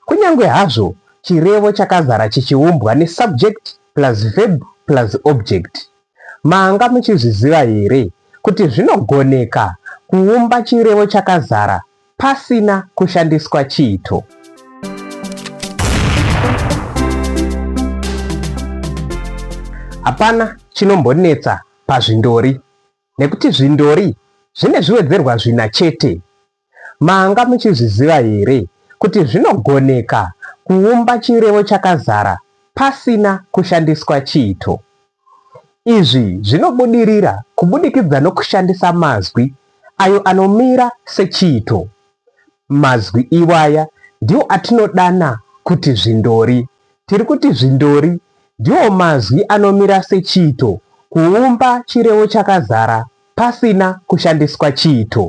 Kunyange hazvo chirevo chakazara chichiumbwa nesubject plus verb plus object, manga muchizviziva here kuti zvinogoneka kuumba chirevo chakazara pasina kushandiswa chiito? Hapana chinombonetsa pazvindori nekuti zvindori zvine zviwedzerwa zvina chete. Manga muchizviziva here kuti zvinogoneka kuumba chirevo chakazara pasina kushandiswa chiito? Izvi zvinobudirira kubudikidza nokushandisa mazwi ayo anomira sechiito. Mazwi iwaya ndiwo atinodana kuti zvindori. Tiri kuti zvindori ndiwo mazwi anomira sechiito kuumba chirevo chakazara pasina kushandiswa chiito.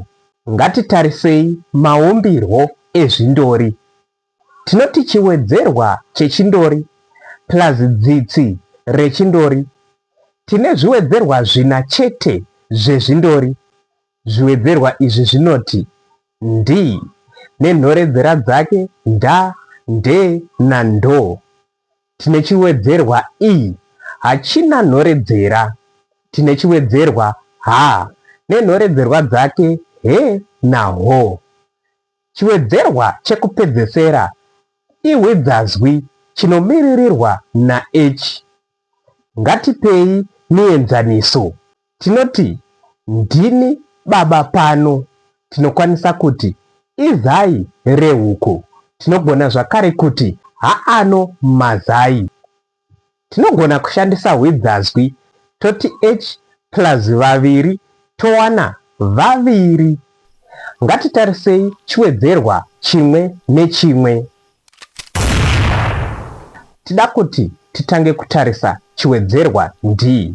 Ngatitarisei maumbirwo ezvindori. Tinoti chiwedzerwa chechindori plus dzitsi rechindori. Tine zviwedzerwa zvina chete zvezvindori. Zviwedzerwa izvi zvinoti, ndi, nenhoredzera dzake, nda, nde, na, ndo. tine chiwedzerwa i hachina nhoredzera tine chiwedzerwa ha nenhoredzerwa dzake he na ho. Chiwedzerwa chekupedzesera ihwidzazwi chinomiririrwa na ech. Ngatipei mienzaniso Tinoti ndini baba pano tinokwanisa kuti izai rehuku, tinogona zvakare kuti haano mazai. Tinogona kushandisa hwidzazwi toti each plus vaviri towana vaviri. Ngatitarisei chiwedzerwa chimwe nechimwe. Tida kuti titange kutarisa chiwedzerwa ndi.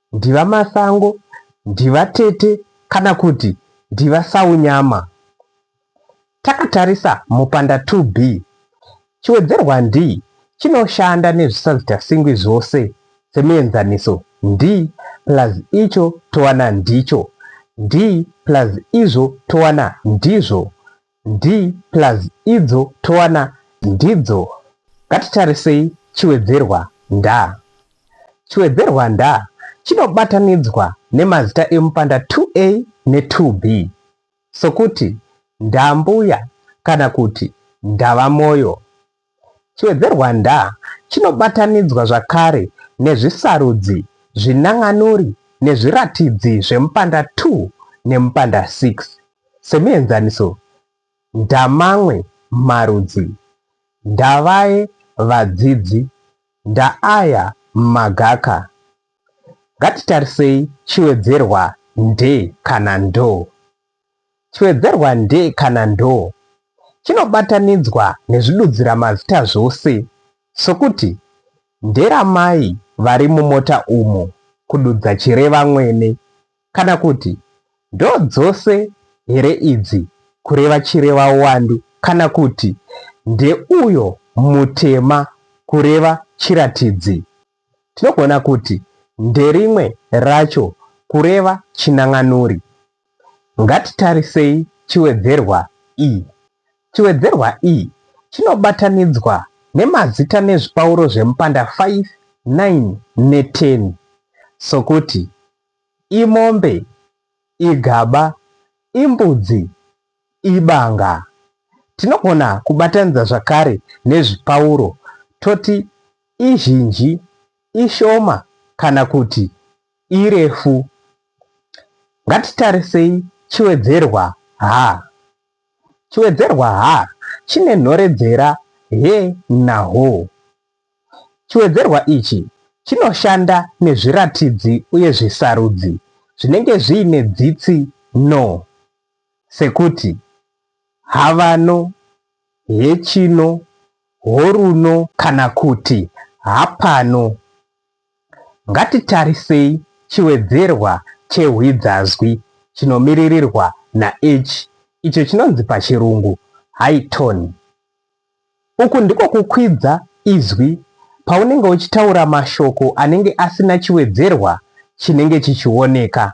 Ndivamasango, Ndivatete kana kuti Ndivasaunyama. Takatarisa mupanda 2B, chiwedzerwa ndi chinoshanda nezvisazitasingwi zvose semuenzaniso ndi plus icho towana ndicho, ndi plus izvo towana ndizvo. Nd plus idzo towana ndidzo ngatitarisei chiwedzerwa nda. Chiwedzerwa nda chinobatanidzwa nemazita emupanda 2a ne 2b sokuti, ndambuya kana kuti ndavamoyo. Chiwedzerwanda chinobatanidzwa zvakare nezvisarudzi, zvinan'anuri nezviratidzi zvemupanda 2 nemupanda 6. Semuenzaniso, ndamamwe marudzi, ndavaye vadzidzi, ndaaya magaka. Ngatitarisei chiwedzerwa nde kana ndo. Chiwedzerwa nde kana ndo chinobatanidzwa nezvidudziramazita zvose sokuti, nderamai vari mumota umo, kududza chireva mwene, kana kuti, ndodzose here idzi, kureva chireva uwandu, kana kuti, ndeuyo mutema, kureva chiratidzi. tinogona kuti nderimwe racho kureva chinan'anuri. Ngatitarisei chiwedzerwa i. Chiwedzerwa i chinobatanidzwa nemazita nezvipauro zvemupanda 5, 9 ne10 sokuti, imombe, igaba, imbudzi, ibanga. Tinogona kubatanidza zvakare nezvipauro toti izhinji, ishoma kana kuti irefu. Ngatitarisei chiwedzerwa ha. Chiwedzerwa ha chine nhoredzera he na ho. Chiwedzerwa ichi chinoshanda nezviratidzi uye zvisarudzi zvinenge zviine dzitsi no sekuti havano, hechino, horuno kana kuti hapano. Ngatitarisei chiwedzerwa chehwidzazwi chinomiririrwa naH icho chinonzi paChirungu high tone. Uku ndiko kukwidza izwi paunenge uchitaura mashoko anenge asina chiwedzerwa chinenge chichioneka.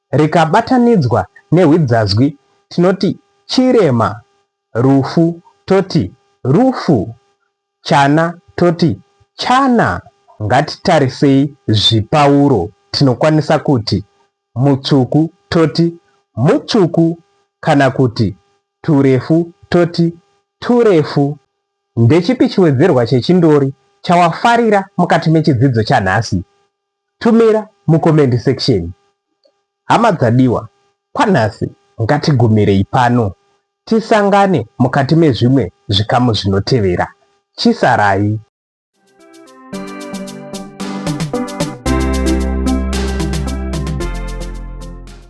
rikabatanidzwa nehwidzazwi tinoti chirema, rufu toti rufu, chana toti chana. Ngatitarisei zvipauro tinokwanisa kuti mutsvuku toti mutsvuku kana kuti turefu toti turefu. Ndechipi chiwedzerwa chechindori chawafarira mukati mechidzidzo chanhasi? Tumira mu comment section. Hama dzadiwa, kwanhasi ngatigumirei pano. Tisangane mukati mezvimwe zvikamu zvinotevera. Chisarai.